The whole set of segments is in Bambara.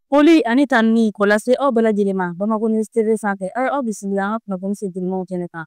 Foli ani tanuni k'o lase aw bɛɛ lajɛlen ma Bamakɔ News TV sanfɛ aw ye aw bisimila an ka kunnafoni sentelimanw kɛnɛ kan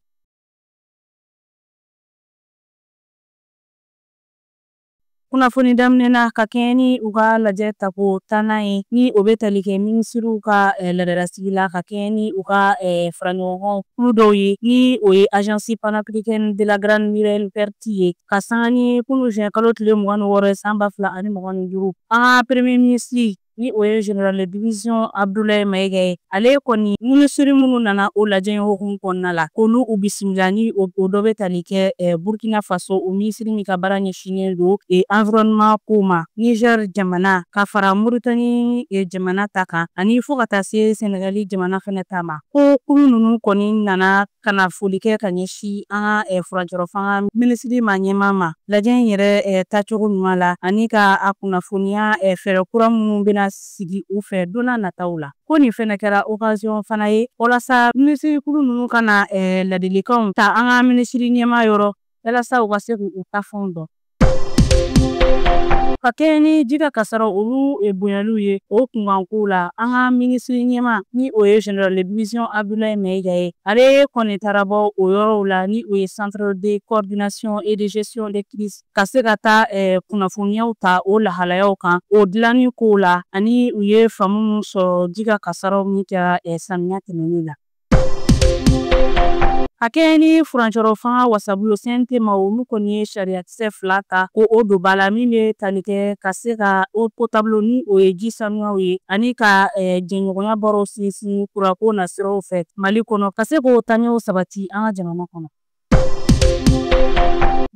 kunnafoni daminɛ na ka kɛɲɛ ni u ka lajɛ tako tannan ye ni o bɛ tali kɛ minisiriw ka eh, laadala sigi la ka kɛɲɛ ni u ka eh, faraɲɔgɔnkan kulu dɔw ye ni o ye agence panafricaine de la grande muraille verte ye ka sanga ni kunu juin kalo tile mugan ni wɔɔrɔ ye san ba fila ani mugan ni duuru an ka premier minisiri ni o ye général de division Abdulayi Mayiga ye ale kɔni minisiri minnu nana o lajɛ hukumu kɔnɔna la k'olu u bisimila ni o dɔ bɛ tali kɛ eh, burkina faso o minisiri min ka baara ɲɛsinnen don eh, environnement ko ma niger jamana ka fara moritani eh, jamana ta kan ani fo ka taa se senegali jamana fɛnɛ ta ma ko kulu ninnu kɔni nana ka na foli kɛ ka ɲɛsin an ka eh, furancɛrɔ fanga minisiri maa ɲɛmaa ma lajɛ in yɛrɛ eh, tacogo ɲuman la ani ka a kunnafoniya eh, fɛɛrɛ kura minnu bɛna sigi u fɛ don n'a nataw la ko nin fɛnɛ kɛra okaziyɔn fana ye walasa minisirikulu ninnu ka na ladilikanw ta an ka minisiri ɲɛmaa yɔrɔ walasa u ka se k'u ta fɛnw dɔn Ka kɛɲɛ ni ji ka kasaraw olu bonyaliw ye o kunkankow la an ka minisiri ɲɛmaa ni o ye général de division Abdulayi Mayiga ye ale kɔni taara bɔ o yɔrɔw la ni o ye centre de coordination et de gestion des crises ka se ka taa kunnafoniyaw ta o lahalayaw kan o dilanni ko la ani u ye faamu min sɔrɔ ji ka kasaraw min kɛra samiya tɛmɛnen la A kɛɲɛ ni furancɛrɔ fanga wasabulon CNT ma olu kɔni ye sariyakisɛ fila ta ko o dɔ b'a la min bɛ tali kɛ ka se ka eau potable ni o ye ji sanuyaw ye ani ka jɛɲɔgɔnya baaraw sinsin kurako nasiraw fɛ mali kɔnɔ ka se k'o taɲɛw sabati an ka jamana kɔnɔ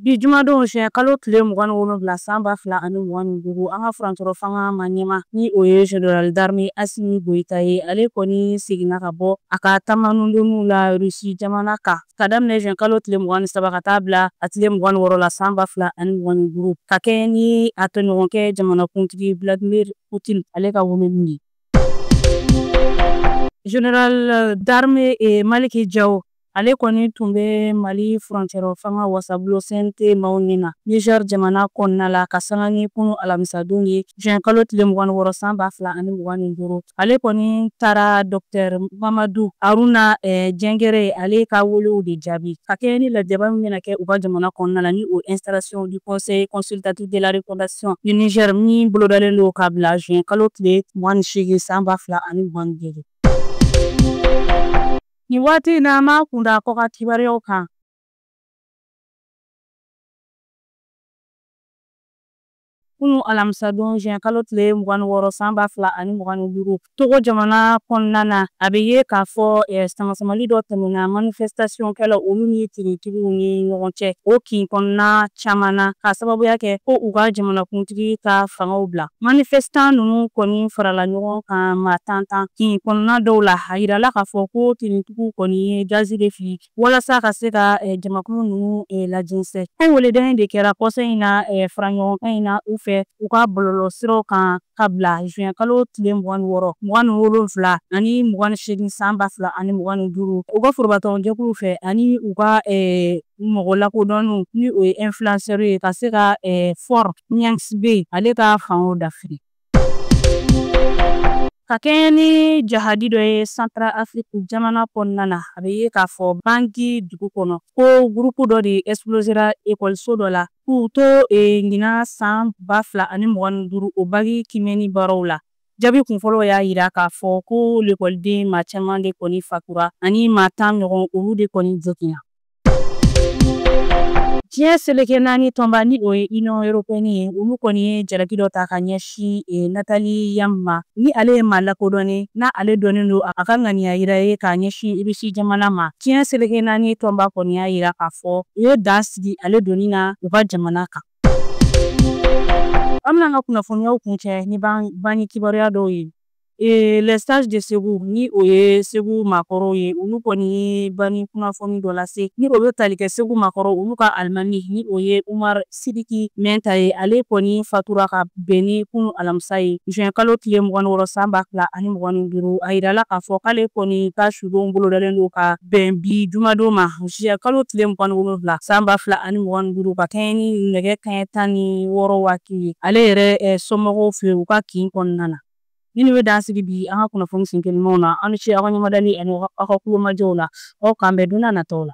Bi jumadon juin kalo tile mugan ni wolonwula san ba fila ani mugan ni duuru an ka furancɛrɔ fanga maa ɲɛmaa ni o ye général d'armée Asimi Goyita ye ale kɔni seginna ka bɔ a ka taamanundonniw la Russie jamana kan ka daminɛ juin kalo tile mugan ni saba ka taa bila a tile mugan ni wɔɔrɔ la san ba fila ani mugan ni duuru ka kɛɲɛ ni a tɔɲɔgɔnkɛ jamanakuntigi Vladimir Putin ale ka weleli ye. Général d'armée Maliki Jaw Ale kɔni tun bɛ Mali furancɛrɔ fanga wasabulon CNT maaw ɲɛ na Niger jamana kɔnɔna la ka sanga ni kunu alamisadon ye juin kalo tile mugan ni wɔɔrɔ san ba fila ani mugan ni duuru. Ale kɔni taara Docteur Mamadu Haruna Jingare ale ka welew de jaabi ka kɛɲɛ ni lajɛba min bɛna kɛ u ka jamana kɔnɔna la ni o ye installation du Conseil consultatif de la refondation du Niger min bolodalen don ka bila juin kalo tile mugan ni seegin san ba fila ani mugan ni duuru. Nin waati in na an b'a kun da kɔkan kibaruyaw kan. Kunu alamisa don juin kalo tile mugan ni wɔɔrɔ san ba fila ani mugan ni duuru Togo jamana kɔnɔna na a bɛ ye k'a fɔ eh, samasamali dɔ tɛmɛna manifestation kɛla olu ni finitigiw ni ɲɔgɔn cɛ o kin kɔnɔna caman na ka sababuya kɛ ko u ka jamanakuntigi ka fanga bila manifestan ninnu kɔni farala ɲɔgɔn kan maa tan tan kin kɔnɔna dɔw la a yirala k'a fɔ ko finitigiw kɔni ye gazi de fili walasa ka se ka eh, jamakulu ninnu eh, lajɛnsɛn ko wele dɔ de kɛra kɔsa in na eh, faraɲɔgɔnkan in na u fɛ u ka bɔlɔlɔ siraw kan ka bila juin kalo tile mugan ni wɔɔrɔ mugan ni wolonfila ani mugan ni seegin san ba fila ani mugan ni duuru u ka forobatɔnjɛkulu fɛ ani u ka mɔgɔ lakodɔnnenw ni o ye influenceur ye ka se ka eh, Faure Gnassingbé ale ka fanga dafiri. Ka kɛɲɛ ni jahadi dɔ ye Centrafrique jamana kɔnɔna na, a bɛ ye k'a fɔ Bangi dugu kɔnɔ ko gurupu dɔ de explosera ekɔliso dɔ la k'u to e, ɲinan san ba fila ani mugan ni duuru o baki kiimɛni baaraw la. Jaabi kunfɔlɔw y'a yira k'a fɔ ko lekɔliden maa caman de kɔni fatura ani maa tan ɲɔgɔn olu de kɔni joginna. Diɲɛ seleke naani tɔnba ni o ye Union européenne ye, olu kɔni ye jalaki dɔ ta ka ɲɛsin eh, Nathalie Yamb ma, ni ale ye maa lakodɔnnen n'a ale dɔnnen don a ka ŋaniya yira ye ka ɲɛsin Russie jamana ma. Diɲɛ seleke naani tɔnba kɔni y'a yira k'a fɔ u ye dan sigi ale donni na u ka jamana kan. An bɛna an ka kunnafoniyaw kuncɛ ni banni kibaruya dɔw ye. Ee les sages de Ségou ni o ye segu maakɔrɔw ye olu kɔni ye banni kunnafoni dɔ lase ni o bɛ tali kɛ segu maakɔrɔ olu ka alimami ni o ye umar sidiki mɛnta ye ale kɔni fatura ka bɛn ni kunu alamisa ye juin kalo tile mugan ni wɔɔrɔ san ba fila ani mugan ni duuru a yirala k'a fɔ k'ale kɔni ka sudon bolodalen don ka bɛn bi jumadon ma juin kalo tile mugan wolonwula san ba fila ani mugan ni duuru ka kɛɲɛ ni nɛgɛ kanɲɛ tan ni wɔɔrɔ waati ye ale yɛrɛ somɔgɔw fɛ u ka kin kɔnɔna na Ninnu bɛ dan sigi bi an ka kunnafoni sen telimanw na aw ni ce aw ka ɲɛmadali ani aw ka tulomajɔ la aw k'an bɛn don n'a nataw la